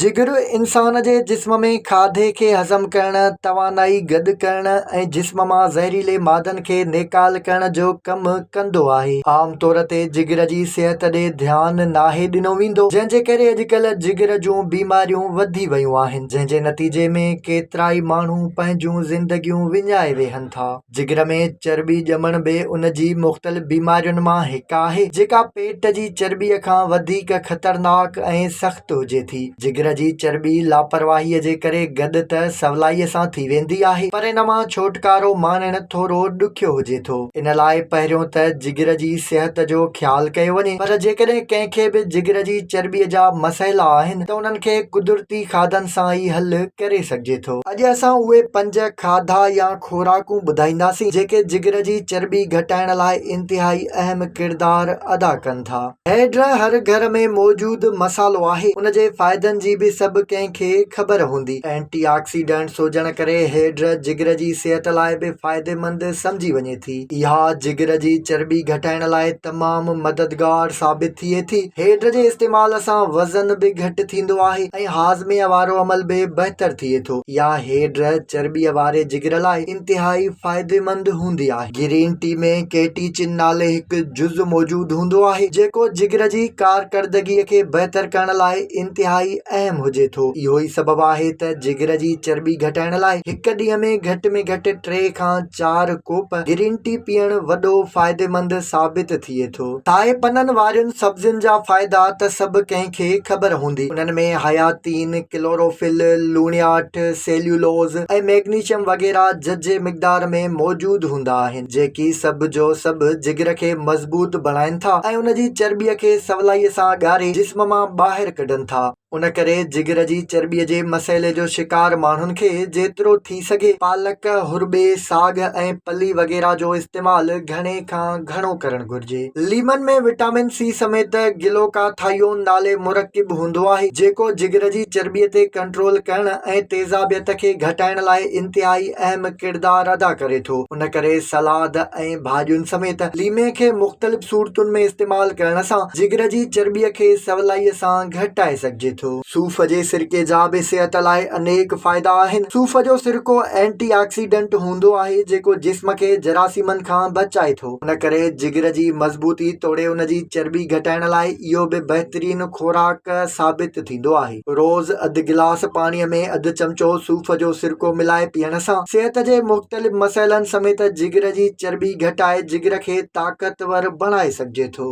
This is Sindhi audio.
جگر انسان جي جسم ۾ کاڌي کي هضم ڪرڻ، توانائي گڏ ڪرڻ ۽ جسم مان زهريلي مادن کي نيڪال ڪرڻ جو ڪم ڪندو آهي. عام طور تي جگر جي صحت ڏي ڌيان ناهي ڏنو ويندو، جنهن جي ڪري اڄڪلهه جگر جون بيماريون وڌي ويون آهن، جنهن جي نتيجي ۾ ڪيترائي ماڻهو پنهنجون زندگيون وڃائي ويهن ٿا. جگر ۾ چرٻي ڄمڻ به ان جي مختلف بيمارين مان هڪ آهي جيڪا پيٽ جي چرٻي کان وڌيڪ خطرناڪ ۽ سخت هجي ٿي. جگر جي چرٻي لاپرواهي جي ڪري گڏ ته سولائي سان ٿي ويندي آهي پر ان مان ڇوٽڪارو ماڻڻ ٿورو ڏکيو هجي ٿو. ان لاء پهريون ته جگر جي صحت جو خيال ڪيو وڃي پر جيڪڏهن ڪنهن کي به جگر جي چرٻي جا مسئلا آهن ته انهن کي قدرتي کاڌن سان ئي حل ڪري سگهجي ٿو. اڄ اسان اهي پنج کاڌا يا خوراڪون ٻڌائينداسين جيڪي جگر جي چرٻي گهٽائڻ لاء انتهائي اهم ڪردار ادا ڪن ٿا. هيڊ هر گهر ۾ موجود مصالحو آهي ان جي فائدن جي به سڀ ڪنهن کي خبر هوندي. اينٽي آڪسيڊنٽس هجڻ ڪري هيڊ جگر جي صحت لاء به فائديمند سمجهي وڃي ٿي. اها جگر جي چرٻي گهٽائڻ لاء تمام مددگار ثابت ٿئي ٿي. هيڊ جي استعمال سان وزن به گهٽ ٿيندو آهي ۽ هاضمي وارو عمل به بهتر ٿئي ٿو. اها هيڊ چرٻيء واري جگر لاء انتهائي فائديمند هوندي آهي. گرين ٽي ۾ ڪيٽيچن نالي هڪ جز موجود هوندو آهي، جيڪو جگر جي ڪارڪردگيء کي بهتر ڪرڻ لاء انتهائي اهم هجي ٿو. اهو ئي سبب آهي ته جگر جي چرٻي گهٽائڻ لاء هڪ ڏينهن ۾ گهٽ ۾ گهٽ ٽي کان چار ڪوپ گرين ٽي پيئڻ وڏو فائديمند ثابت ٿئي ٿو. سائي پنن وارين سبزين جا فائدا ته سڀ ڪنهن کي خبر هوندي. انهن ۾ حياتين، ڪلوروفل، لوڻياٺ، سيليولوز ۽ ميگنيشم وغيره ججهي مقدار ۾ موجود هوندا آهن، جيڪي سڀ جو سڀ جگر کي مضبوط بڻائين ٿا ۽ ان جي چرٻيء کي سولائيء سان ڳاري جسم مان ٻاهر ڪڍن ٿا. ان ڪري جگر جي چرٻي جي مسئلي جو شڪار ماڻهن کي جيترو ٿي سگهي پالڪ، هرٻي، ساڳ ۽ پلي وغيره جو استعمال گهڻي کان گهڻو ڪرڻ گهرجي. ليمن ۾ وٽامن سي سميت گلوڪاٿائيون نالي مرڪب هوندو آهي، جيڪو جگر جي چرٻي تي ڪنٽرول ڪرڻ ۽ تيزابيت کي گهٽائڻ لاء انتهائي اهم ڪردار ادا ڪري ٿو، ان ڪري سلاد ۽ ڀاڄين سميت ليمي کي مختلف صورتن ۾ استعمال ڪرڻ سان جگر جي چرٻي کي سولائي سان گهٽائي سگهجي ٿو. صوف جي سرڪي جا به صحت لاء انيڪ فائدا آهن. صوف جو سرڪو اينٽي آڪسيڊنٽ هوندو آهي جيڪو جسم کي جراثيمن کان بچائي ٿو. ان ڪري جگر جي مضبوطي توڙي ان جي چرٻي گهٽائڻ لاء اهو به بهترين خوراڪ ثابت ٿيندو آهي. روز اڌ گلاس پاڻي ۾ اڌ چمچو صوف جو سرڪو ملائي پيئڻ سان صحت جي مختلف مسئلن سميت جگر جي چرٻي گهٽائي جگر کي طاقتور بڻائي سگهجي ٿو.